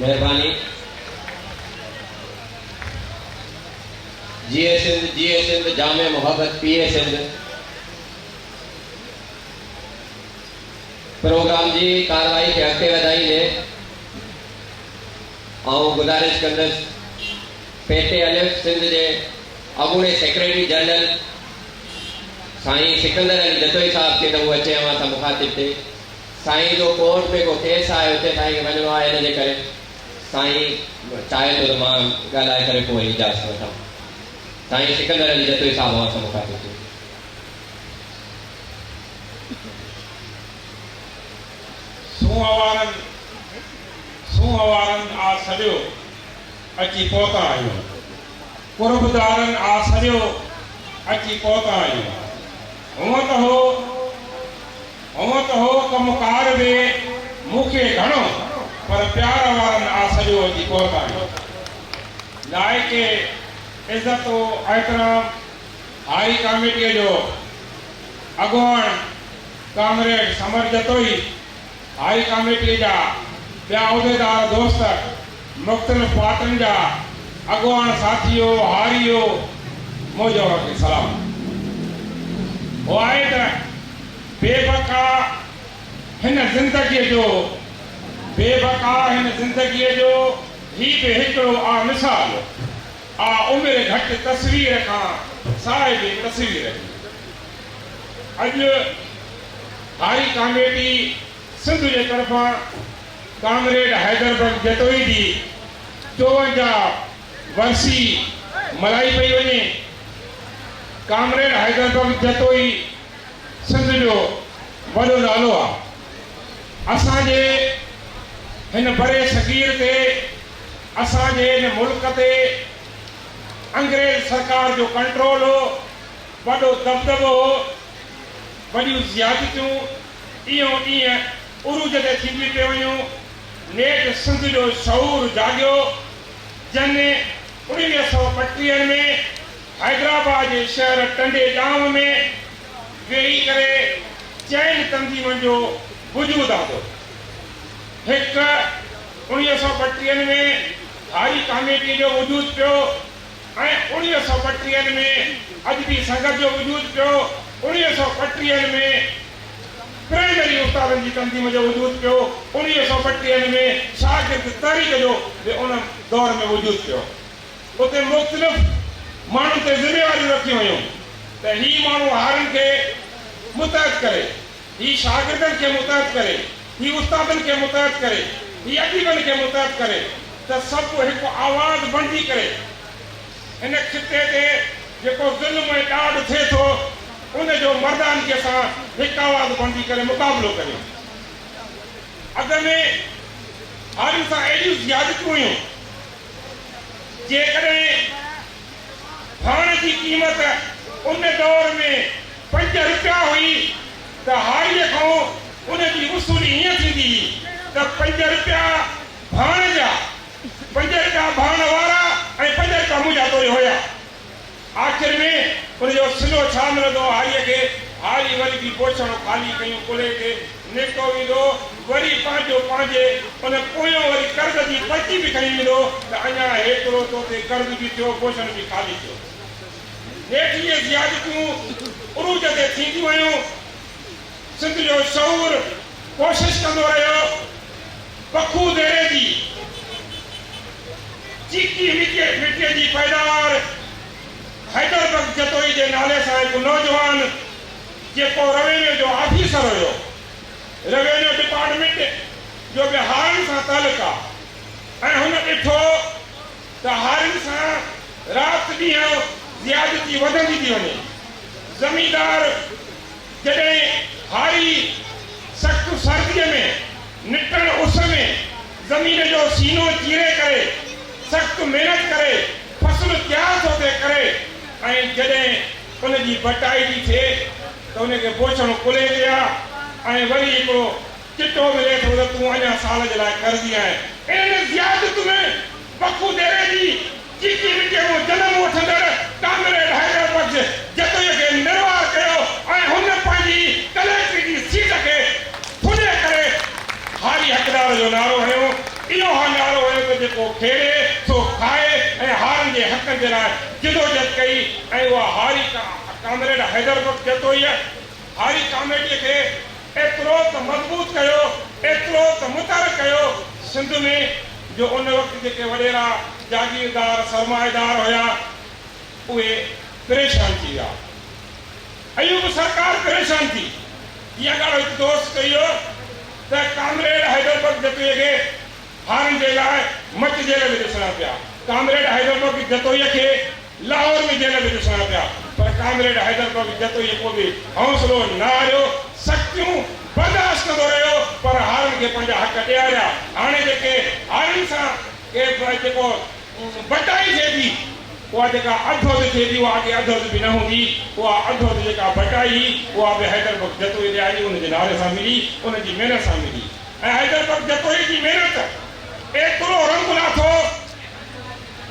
مهرباني جيئي سنڌ جيئي سنڌ جام محبت پيئي سنڌ پروگرام جي ڪارروائي کي اڳتي وڌائيندي آئون گذارش ڪندس پيٽي الف سنڌ جي اڳوڻي سيڪريٽري جنرل سائين سڪندر علي جتوئي صاحب کي ته هو اچي اوهان سان مخاطب ٿئي سائين جو ڪورٽ ۾ ڪو ڪيس آهي اتي سائين کي وڃڻو آهي ان جي ڪري سائين چاهي ٿو ته مان ڳالهائي ڪري پوء اجازت وٺان. سائين سڪندر علي جتوئي صاحب اوهان سان مخاطب ٿيو. سونهوارن سونهوارن آ سڏيو اچي پهتا آهيون. قربدارن آ سڏيو اچي پهتا آهيون. هونء ته هو. هونء ته هو ڪم ڪار به مون کي گهڻو پر پيار وارن آ سڄو اچي پهتائين. لائق عزت و احترام هاري ڪاميٽيء جو اڳواڻ ڪامريڊ سمر جتوئي، هاري ڪاميٽيء جا ٻيا عهديدار دوست، مختلف پارٽين جا اڳواڻ ساٿيو هاريو موجوهر کي سلام هو آهي ته بي بقا هن زندگي جو بي بقا هن زندگي جو هي به هڪڙو آ مثال آ عمر گهٽ تصوير کان صاحب تصوير جي اڄ هاري ڪاميٽي سنڌ جي طرفان ڪامريڊ حيدر بيگ جتوئي جي چوونجاهه ورسي ملهائي پئي وڃي. ڪامريڊ حيدر بيگ جتوئي سنڌ جو وڏو نالو آ. اسان جي هن بري صغير تي اسان جي هن ملڪ تي انگريز سرڪار جو ڪنٽرول هو، وڏو دٻدٻو هو، وڏيون زيادتيون ڏينهون ڏينهن عروج تي ٿينديون پيون وڃون. نيٺ سنڌ جو شعور جاڳيو، جنھن اڻويھه سؤ ٻٽيهه ۾ حيدرآباد جي شهر ٽنڊي ڏانء ۾ ويھي ڪري چئن تنظيمن جو وجود آندو. هڪ، اڻويھه سؤ ٻٽيهه ۾ هاري ڪاميٽيء جو وجود پيو. ۽ اوڻيهه سؤ ٻٽيهن ۾ ادبي سنگت جو وجود پيو، اوڻيهه سؤ ٻٽيهن ۾ پرائمري استادن جي تنظيم جو وجود پيو، اوڻيهه سؤ ٻٽيهن ۾ شاگرد تحريڪ جو به ان دور ۾ وجود پيو. اتي مختلف ماڻهن تي ذميواريون رکيون ويون ته هي ماڻهو هارين کي متحد ڪري. هي شاگردن کي متحد ڪري، هي استادن کي متحد ڪري، هي اديبن کي متحد ڪري ته سڀ هڪ آواز بڻجي ڪري هن خطي تي جيڪو ظلم ۽ ڏاڍ ٿئي ٿو ان جو مردانگيء سان هڪ آواز بڻجي ڪري مقابلو ڪري. اڳ ۾ هارين سان اهڙيون زيادتيون هيون جيڪڏهن ڀاڻ جي قيمت ان دور ۾ پنج روپيا هئي ته هاريء کان ان جي وصولي هيئن ٿيندي هئي ته پنج روپيا ڀاڻ جا، پنج روپيا ڀاڻ وارا ۽ پنج روپيا منهنجا توري هيا. آخر ۾ ان جو صلو ڇا ملندو هو هاريء کي؟ هاري وري به بوڇڙو خالي ڪيون ڪلهي تي نيڪو ويندو وري پنهنجو پنهنجي ان پويان وري قرض جي پرچي به کڻي ويندو ته اڃان هيترو تو تي قرض به ٿيو بوشڻ به خالي ٿيو نيٺ اهي زيادتيون عروج تي ٿينديون ويون سنڌ جو شعور ڪوشش ڪندو رهيو بکو ديري جي چيڪي مٽي جي پيداوار حيدر بخش جتوئي جي نالي سان هڪ نوجوان. جيڪو روينيو جو آفيسر هيو. روينيو ڊپارٽمينٽ جو به هارن سان تعلق آ ۽ هن ڏٺو ته هارن سان رات ڏينهن زيادتي وڌندي ٿي وڃي. زميندار جڏهن هاري سخت سرديء ۾ نٽڻ اس ۾ زمين جو سينو چيري ڪري سخت محنت ڪري فصل تيار ٿو ٿي ڪري ۽ جڏهن ان جي ڀٽائي جي ٿئي ته ان کي بوڇڻو ڪلهي تي آ ۽ وري هڪڙو چٽو ملي ٿو ته تون اڃا سال جي لاء قرضي آهين. ان زيادت ۾ بکو ديري جي چيڪي مٽيء مان جنم وٺندڙ ڪامريڊ حيدر بخش جتوئيء کي نروار ڪيو ۽ هن پنهنجي ڪليڪٽري جي سيٽ کي ٿلهي ڪري هاري حقدار جو نعرو هنيو. اهو اها نعرو هيو ته جيڪو کيڏي سو کائي ۽ هارن جي حقن جي لاء جدوجھد ڪئي ۽ اها هاري ڪامريڊ حيدر بخش جتوئيء هاري ڪاميٽيء کي ايترو ته مضبوط ڪيو، ايترو ته متحرڪ ڪيو سنڌ ۾ جو ان وقت جيڪي وڏيرا جاگيردار سرمائيدار هيا اهي پريشان ٿي ويا. ايوب سرڪار پريشان ٿي اها ڳالهه هڪ دوست ڪئي هو ته ڪامريڊ حيدر بخش جتوئي کي هارن جي لاء مچ جيل ۾ ڏسڻا پيا. ڪامريڊ حيدر بخش جتوئي کي لاهور ۾ جيل ۾ ڏسڻا پيا پر ڪامريڊ حيدر بخش جتوئي پوء به حوصلو نه هاريو، سختيون برداشت ڪندو رهيو پر هارن کي پنهنجا حق ڏياريا. هاڻي جيڪي هارن سان ڪي به جيڪو بٽائي ٿئي ٿي، اها جيڪا اڌ اڌ ٿئي ٿي، اها اڳي اڌ اڌ به نه هوندي، اها اڌ اڌ جيڪا بٽائي هئي، اها به حيدر بخش جتوئي ڏياري ان جي نالي سان ملي، ان جي محنت سان ملي ۽ حيدر بخش جتوئي جي محنت ايترو رنگ لاٿو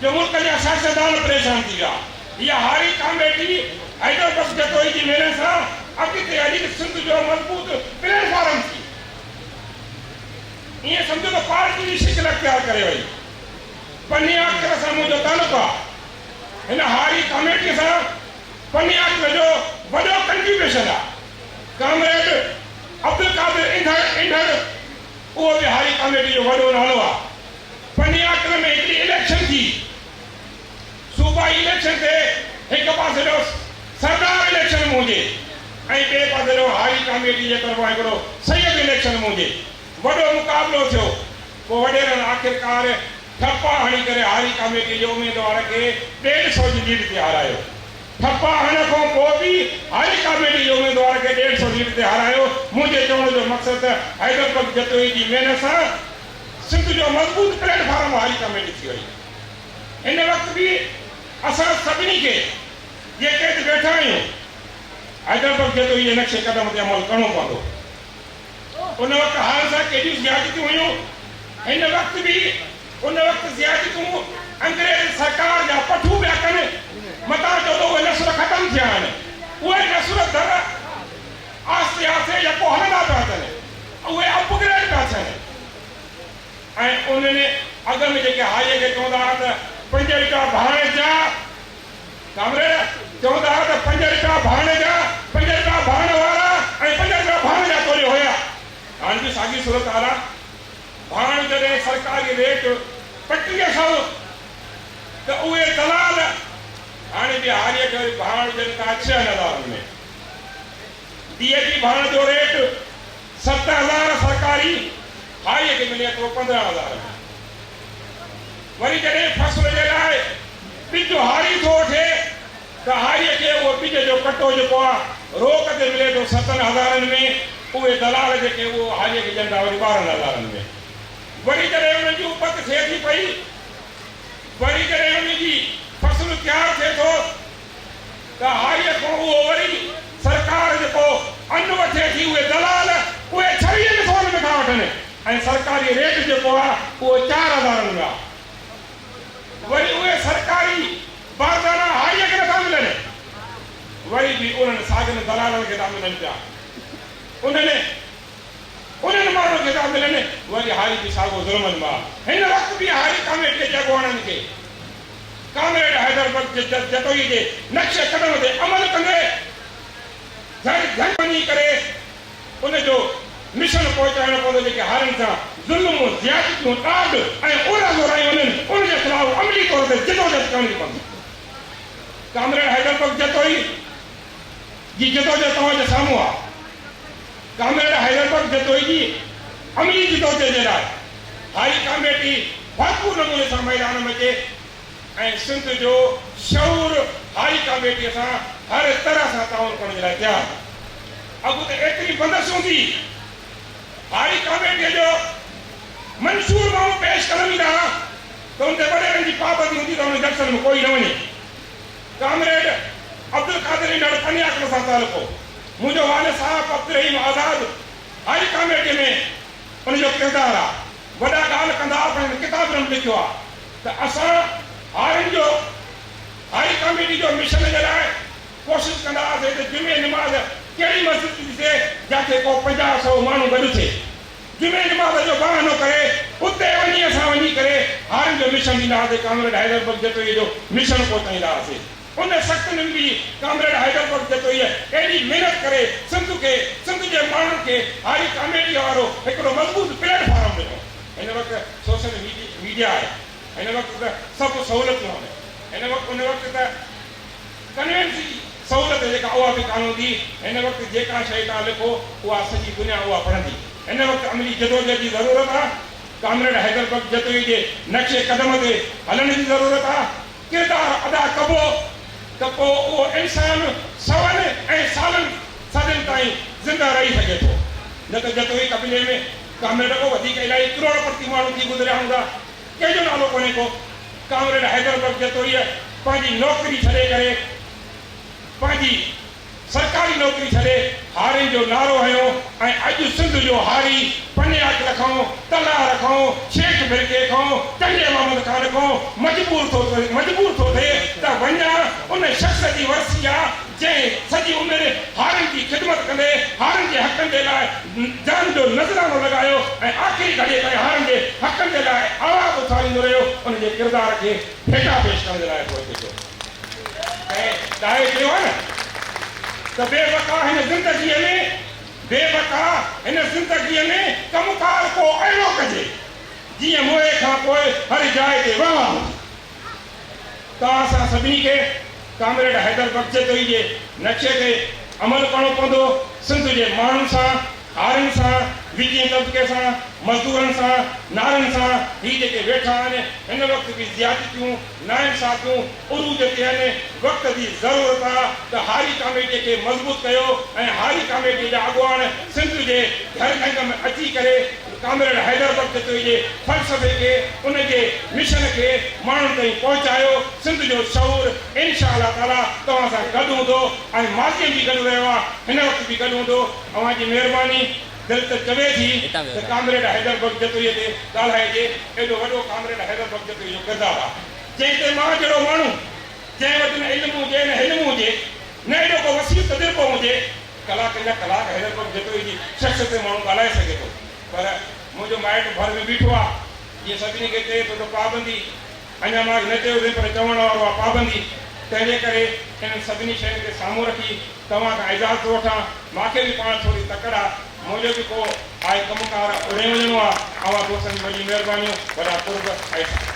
جو ملڪ جا سياستدان پريشان ٿي ويا. اها هاري ڪاميٽي حيدر بخش جتوئي جي محنت سان اڳتي هلي ته سنڌ جو مضبوط پليٽ فارم ٿي. ائين سمجهو ته پارٽي جي شڪل اختيار ڪري وئي. پني آچر سان منهنجو تعلق آ. هن هاري ڪاميٽيء سان پني آچر جو وڏو ڪنٽريبيوشن آ. ڪامريڊ عبدالقادر انڌڙ، انڍڙ، اهو به هاري ڪاميٽيء جو وڏو نالو آ. پني آچر ۾ هڪڙي اليڪشن ٿي. صوبائي اليڪشن تي هڪ پاسي ڏانهن سردار اليڪشن موهجي ۽ ٻئي پاسي ڏانهن هاري ڪاميٽيء جي طرفان هڪڙو سيد اليڪشن موهجي. وڏو مقابلو ٿيو. پوء وڏيرن آخرڪار ٺپا هڻي ڪري هاري ڪاميٽي جي اميدوار کي ڏيڍ سئو جي ليڊ تي هارايو. ٺپا هڻڻ کان پوء به هاري ڪاميٽي جي اميدوار کي ڏيڍ سئو ليڊ تي هارايو. منهنجي چوڻ جو مقصد ته حيدر بخش جتوئي جي محنت سان سنڌ جو مضبوط پليٽ فارم هاري ڪاميٽي ٿي وئي. هن وقت به اسان سڀني کي جيڪي هتي ويٺا آهيون حيدر بخش جتوئي جي نقش قدم تي عمل ڪرڻو پوندو. ان وقت حال سان ڪيڏيون زيادتيون هيون، هن وقت به ان وقت زيادتيون انگريز سرڪار جا پٺون پيا ڪن، متان جو ته اهي نسل ختم ٿيا آهن، اهي نسل در آهستي آهستي يڪو هلندا پيا اچن، اهي اپ گريڊ پيا ٿين ۽ انهن اڳ ۾ جيڪي هائي کي چوندا هئا ته پنجويهه ٽا ڀاڻيجا، ڪامريڊ چوندا ھئا ته پنج رپيا ڀاڻ جا، پنج رپيا ڀاڻ وارا ۽ پنج رپيا ڀاڻ جا توري ھيا. ھاڻ به ساڳي صورتحال آ. ڀاڻ جڏھن سرڪاري ريٽ پٽيء کان ھو ته اھي دلال ھاڻي ڏھاڙيء کي وري ڀاڻ ڏين ٿا ڇهن ھزارن ۾. ديء جي ڀاڻ جو ريٽ ست ھزار سرڪاري، ھائيء کي ملي ٿو پندرهن ھزارن ۾. وري جڏهن فصل جي لاء ٻج هاري ٿو وٺي ته هاريء کي اهو ٻج جو ڪٽو جيڪو آ روڪ تي ملي ٿو ستن هزارن ۾ اهي دلال جيڪي اهو هاريء کي ڏين ٿا وري ٻارهن هزارن ۾ وري جڏهن انهن جي اپت ٿئي ٿي پئي وري جڏهن انهن جي فصل تيار ٿئي ٿو ته هاريء کان اهو وري سرڪار جيڪو ان وٺي ٿي اهي دلال اهي ڇويهن سون ۾ ٿا وٺن ۽ سرڪاري ريٽ جيڪو آهي اهو چار هزار رپيا آهي وري اهي سرڪاري باردانا هاري اگهه نٿا ملن وري به انهن ساڳن دلالن کي ٿا ملن پيا انهن انهن ماڻهن کي ٿا ملن وري هاري به ساڳو ظلمن مان هن وقت به هاري ڪاميٽيء جي اڳواڻن کي ڪامريڊ حيدر بخش جتوئي جي نقش قدم تي عمل ڪندي جهڙ جهنگ وڃي ڪري ان جو مشن پهچائڻو پوندو، جيڪي هارين سان ظلم، زيادتيون، ڏاڍ ۽ اورا زورايون وڃن، ان جي خلاف عملي طور تي جدوجهد ڪرڻي پوندي. ڪامريڊ حيدر بخش جتوئي جي جدوجهد توهان جي سامهون آهي. ڪامريڊ حيدر بخش جتوئي جي عملي جدوجهد جي لاء هاري ڪاميٽي ڀرپور نموني سان ميدان ۾ اچي ۽ سنڌ جو شعور هاري ڪاميٽيء سان هر طرح سان تعاون ڪرڻ جي لاء تيار آهي. اڳ ته ايتري بندس هوندي هئي. هاري ڪاميٽيء جو منشور ماڻهو پيش ڪرڻ ايندا ها ته ان تي وڏيرن جي پابندي هوندي ته انهن جلسن ۾ ڪوئي نه وڃي. ڪامريڊ عبدالقادر هن ڏاڍو پني عقل سان تعلق هو. منهنجو والد صاحب عبدالرحيم آزاد هاري ڪاميٽيء ۾ ان جو ڪردار آ. وڏا ڳالهه ڪندا پر هن ڪتاب ۾ به لکيو آ ته اسان هارين جو هاري ڪاميٽيء جو مشن جي لاء ڪوشش ڪندا هئاسين ته جمعي نماز ڪهڙي مسجد ۾ ٿي ٿئي جاتي ڪو پنجاهه سئو ماڻهو گڏ ٿئي. جمعي نماز جو بهانو ڪري اتي وڃي اسان وڃي ڪري هارين جو مشن ڏيندا هئاسين ڪامريڊ حيدر بخش جتوئيء جو مشن پهچائيندا هئاسين. ان سخت ننڊ به ڪامريڊ حيدر بخش جتوئيء ايڏي محنت ڪري سنڌ کي سنڌ جي ماڻهن کي هاري ڪاميڊيء وارو هڪڙو مضبوط پليٽ فارم ڏنو. هن وقت سوشل ميڊيا آهي. هن وقت ته سڀ سهولتون آهن. هن وقت ان وقت ته. ڪنهن جي سهولت جيڪا اها به ڪانه هوندي، هن وقت جيڪا شيء توهان لکو، اها سڄي دنيا اها پڙهندي. هن وقت عملي جدوجهد جي ضرورت آ، ڪامريڊ حيدر بخش جتوئي جي نقش قدم تي هلڻ جي ضرورت آ، ڪردار ادا ڪبو ته پوء اهو انسان سون ۽ سالن صدين تائين زنده رهي سگهي ٿو، نه ته جتوئي قبيلي ۾ ڪامريڊ کان وڌيڪ الائي ڪروڙ پتي ماڻهو ٿي گذريا هوندا. ڪنهن جو نالو ڪونهي ڪو. ڪامريڊ حيدر بخش جتوئيء پنهنجي نوڪري ڇڏي ڪري، پنهنجي سرڪاري نوڪري ڇڏي هارين جو نعرو هنيو ۽ اڄ سنڌ جو هاري پني عاقل کان، تلهار کان، شيخ مرڪي کان، ٽنڊي محمد خان کان مجبور ٿو ٿئي ته وڃان ان شخص جي ورسي جا جنهن سڄي عمر هارين جي خدمت ڪندي هارين جي حقن جي لاء جان جو نذرانو لڳايو ۽ آخري گهڙي تائين هارين جي حقن جي لاء آواز اٿاريندو رهيو، ان جي ڪردار کي ڀيٽا پيش ڪرڻ جي لاء اچو اچو ٿيو. ڪنهن ڏاهي چيو آهي نه ته بي بقا هن زندگيء ۾ بي بقا هن زندگيء ۾ ڪم ڪار ڪو اهڙو ڪجي جيئن موئي کان پوء هر جاء تي واهه واهه هجي. ته اسان سڀني کي ڪامريڊ حيدر بخش جتوئي جي نقشي تي عمل ڪرڻو پوندو، سنڌ جي ماڻهن سان، هارين سان، وچين طبقي سان، مزدورن سان، نارين سان، هي جيڪي ويٺا آهن، هن وقت به زيادتيون، ناانصافيون عروج تي آهن، وقت جي ضرورت آ ته هاري ڪاميٽي کي مضبوط ڪيو ۽ هاري ڪاميٽي جا اڳواڻ سنڌ جي گهر گهنگ ۾ اچي ڪري، ڪامريڊ حيدر بخت چوئي جي فلسفي کي، ان جي مشن کي ماڻهن تائين پهچايو. سنڌ جو شعور انشاء الله تعاليٰ توهان سان گڏ هوندو ۽ ماضيء ۾ به گڏ رهيو آهي، هن وقت به گڏ هوندو. اوهان جي مهرباني. دل ته چوي ٿي ته ڪامريڊ حيدر بخت جتوئيء تي ڳالهائجي. ايڏو وڏو ڪامريڊ حيدر بخت جتوئي جو ڪردار آهي، جنهن تي مان جهڙو ماڻهو، جنهن وٽ نه علم هجي نه حلم هجي، نه ايڏو ڪو وسيع تجربو هجي، ڪلاڪن جا ڪلاڪ حيدرپور جتوئي جي ڇهه ستين ماڻهو ڳالهائي سگهي ٿو پر منهنجو مائٽ ڀر ۾ بيٺو آ جيئن سڀني کي چئي ٿو ته پابندي اڃا ماڳ نه چيو اٿئي پر چوڻ وارو آ پابندي تنهنجي ڪري انهن سڀني شين کي سامهون رکي توهان کان اجازت ٿو وٺان ماکي به پاڻ ٿوري تڪڙ آ منهنجو به ڪو آء ڪم ڪار اڏي وڃڻو آ اوهان دوستن جي وڏي مهربانيون وڏا قرب احسان.